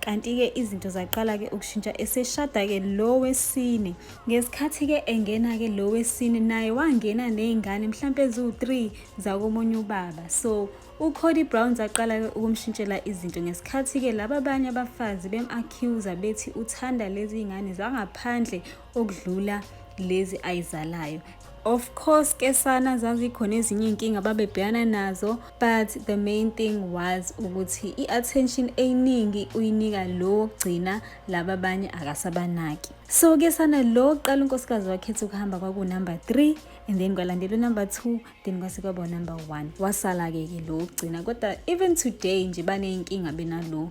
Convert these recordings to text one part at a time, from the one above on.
kanti-ke izinto zaqala-ke ukushintsha eseshada-ke lo wesine ngesikhathi-ke engena-ke lo wesine naye wangena ney'ngane mhlawumpe eziwu-three zakomunye ubaba so uCody Brown zaqala-ke ukumshintshela izinto ngesikhathi-ke laba abanye abafazi bem-accuser bethi uthanda lezi ngane zangaphandle okudlula lezi ayizalayo of course ke sana zazikhona ezinye iy'nkinga babebhekana nazo but the main thing was ukuthi i-attention eyiningi uyinika lo wokugcina laba abanye akasabanaki so ke sana lo qala unkosikazi wakhetha ukuhamba kwakunumber 3 and then kwalandela unumber 2 then kwase kwaba unumber 1 wasala-ke ke lo wokugcina kodwa even today nje baney'nkinga benalo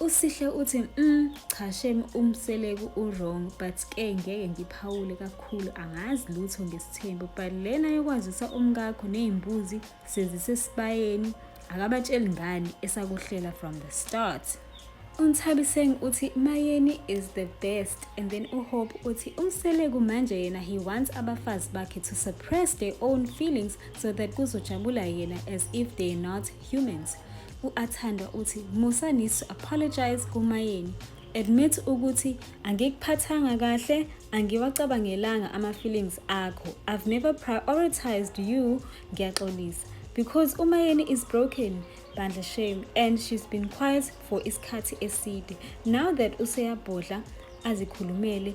Usihle uthi mm cha shem umseleku uwrong but ke ngeke ngiphawule kakhulu angazi lutho ngesithembu but lena yokwazisa umkakho nezimbuzi sezisesibayeni akabatsheli ngani esakuhlela from the start unthabiseng uthi mayeni is the best and then uhope uthi umseleku manje yena he wants abafazi bakhe to suppress their own feelings so that kuzojabula yena as if they are not humans U-Athandwa uthi Musa needs to apologize kuMayeni. Admit ukuthi angikuphathanga kahle, angiwacabangelanga ama-feelings akho. I've never prioritized you, ngiyaxolisa. Because uMayeni is broken, bandla shame, and she's been quiet for isikhathi eside. Now that useyabhodla, azikhulumele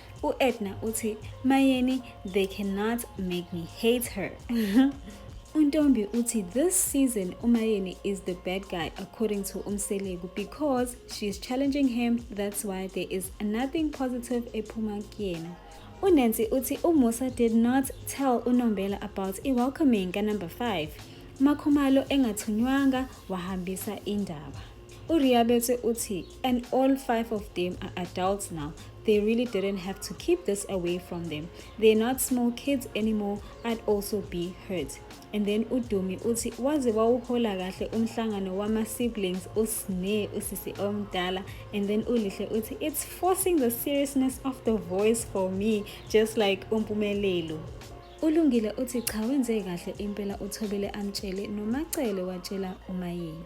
U-Edna uthi, Mayeni, they cannot make me hate her. UNtombi uthi this season uMayeni is the bad guy according to uMseleku because she is challenging him that's why there is nothing positive ephuma kuyena. UNancy uthi uMusa did not tell uNombela about i-welcoming ka-number 5 makhumalo engathunywanga wahambisa indaba. URiabetse uthi And all five of them are adults now. They really didn't have to keep this away from them. They're not small kids anymore. I'd also be hurt. And then uDumi uthi waze wawuhola kahle umhlangano wama siblings usne usisi omdala and then ulihle uthi it's forcing the seriousness of the voice for me just like umpumelelo ulungile uthi cha wenze kahle impela uthobele amtshele nomacele watshela umayini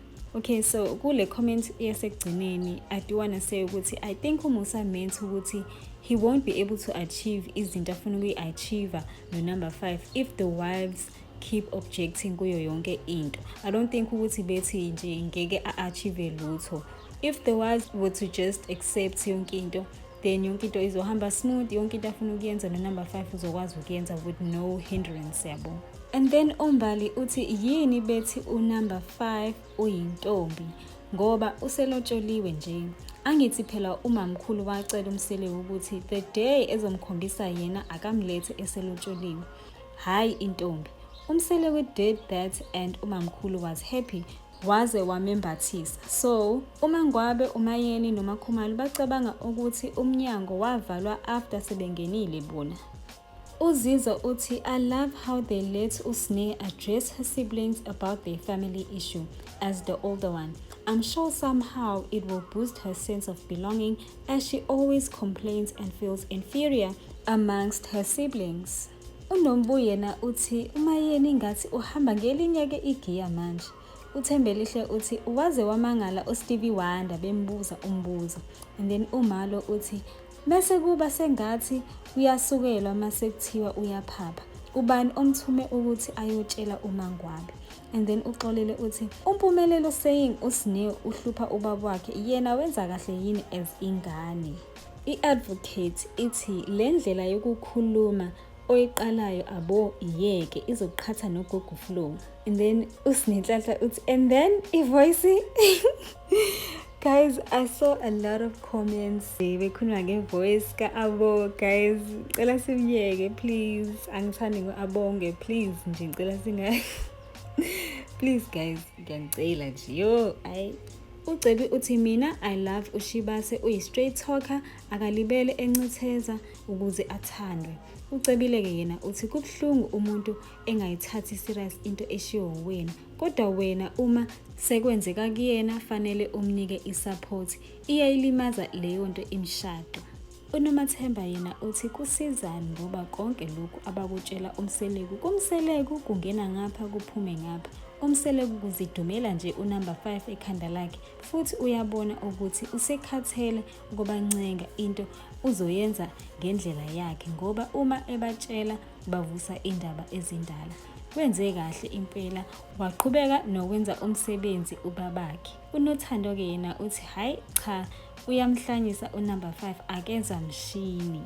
Okay so kule comment yasekugcineni I do wanna say ukuthi I think uMusa meant ukuthi he won't be able to achieve izinto afuna ukuyi-achieve no-number five if the wives keep objecting kuyo yonke into i don't think ukuthi bethi nje ngeke a-achieve lutho if the wives were to just accept yonke into then yonke into izohamba smooth yonke into afuna ukuyenza nonumber 5 uzokwazi ukuyenza with no hindrance yabo and then umbali uthi yini bethi unumber 5 uyintombi ngoba uselotsholiwe nje angithi phela umamkhulu wacela umsele ukuthi the day ezomkhombisa yena akamlethe eselotsholiwe hhayi intombi umsele we did that and umamkhulu was happy waze wamembathisa. So, uMangwabe, uMayeni noMakhumalo bacabanga ukuthi umnyango wavalwa after sebengenile bona. Uzizo uthi, I love how they let Usne address her siblings about their family issue as the older one. I'm sure somehow it will boost her sense of belonging as she always complains and feels inferior amongst her siblings. UNombu yena uthi uMayeni ngathi uhamba ngelinye-ke igiya manje. UThembelihle uthi waze wamangala uStevie Wonder bembuza umbuzo and then uMalo uthi mese kuba sengathi uyasukelwa mase kuthiwa uyaphapha ubani omthume ukuthi ayotshela uMangwabe and then uxolele uthi umpumelelo saying uSneil uhlupha ubaba wakhe yena wenza kahle yini as ingane I-advocate ithi le ndlela yokukhuluma oyiqalayo abo iyeke izoqhatha nogogo flow and then usinenhlanhla uthi and then ivoice guys i saw a lot of comments bekhuluma ngevoice ka-abo guys cela simyeke please angithandi ngo-abonge please nje ngicela singayi please guys ngiyanicela nje yo ayi UCebi uthi mina I love uShibase uyi-straight talker akalibele encitheza ukuze athandwe. Ucebile-ke yena uthi kubuhlungu umuntu engayithathi serious into eshiwo wena kodwa wena uma sekwenzeka kuyena fanele umnike i-support iyayilimaza leyo nto imshado. UNomathemba yena uthi kusizani ngoba konke lokhu abakutshela umseleku kumseleku kungena ngapha kuphume ngapha umseleku kuzidumela nje unumber 5 ekhanda lakhe futhi uyabona ukuthi usekhathele ukubancenga into uzoyenza ngendlela yakhe ngoba uma ebatshela bavusa indaba ezindala wenze kahle impela waqhubeka nokwenza umsebenzi ubabakhe Unothando-ke yena uthi hhayi cha uyamhlanyisa unumber 5 akenza mshini.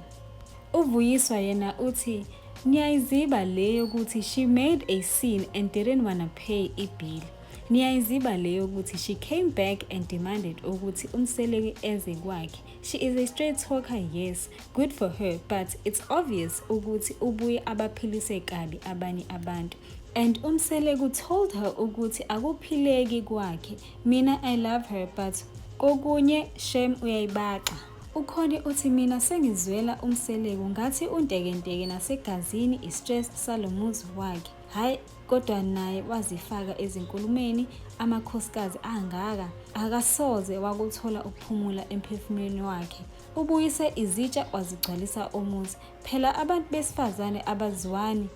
Uvuyiswa yena uthi niyayiziba le yokuthi she made a scene and didn't wanna pay ibill. Niyayiziba le yokuthi she came back and demanded ukuthi umseleki eze kwakhe. She is a straight talker yes, good for her but it's obvious ukuthi ubuye abaphilise kabi abanye abantu. and umseleku told her ukuthi akuphileki kwakhe mina i love her but kokunye shem uyayibaxa ukhoni uthi mina sengizwela umseleku ngathi untekenteke nasegazini istress salomuzi wakhe hhayi kodwa naye wazifaka ezinkulumeni amakhosikazi angaka akasoze wakuthola ukuphumula emphefumulweni wakhe ubuyise izitsha wazigcwalisa umuzi phela abantu besifazane abaziwani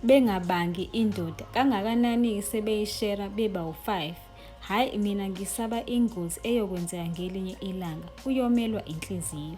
bengabangi indoda kangakanani-ke sebeyishera beba u-5 hhayi mina ngisaba ingozi eyokwenzeka ngelinye ilanga uyomelwa inhliziyo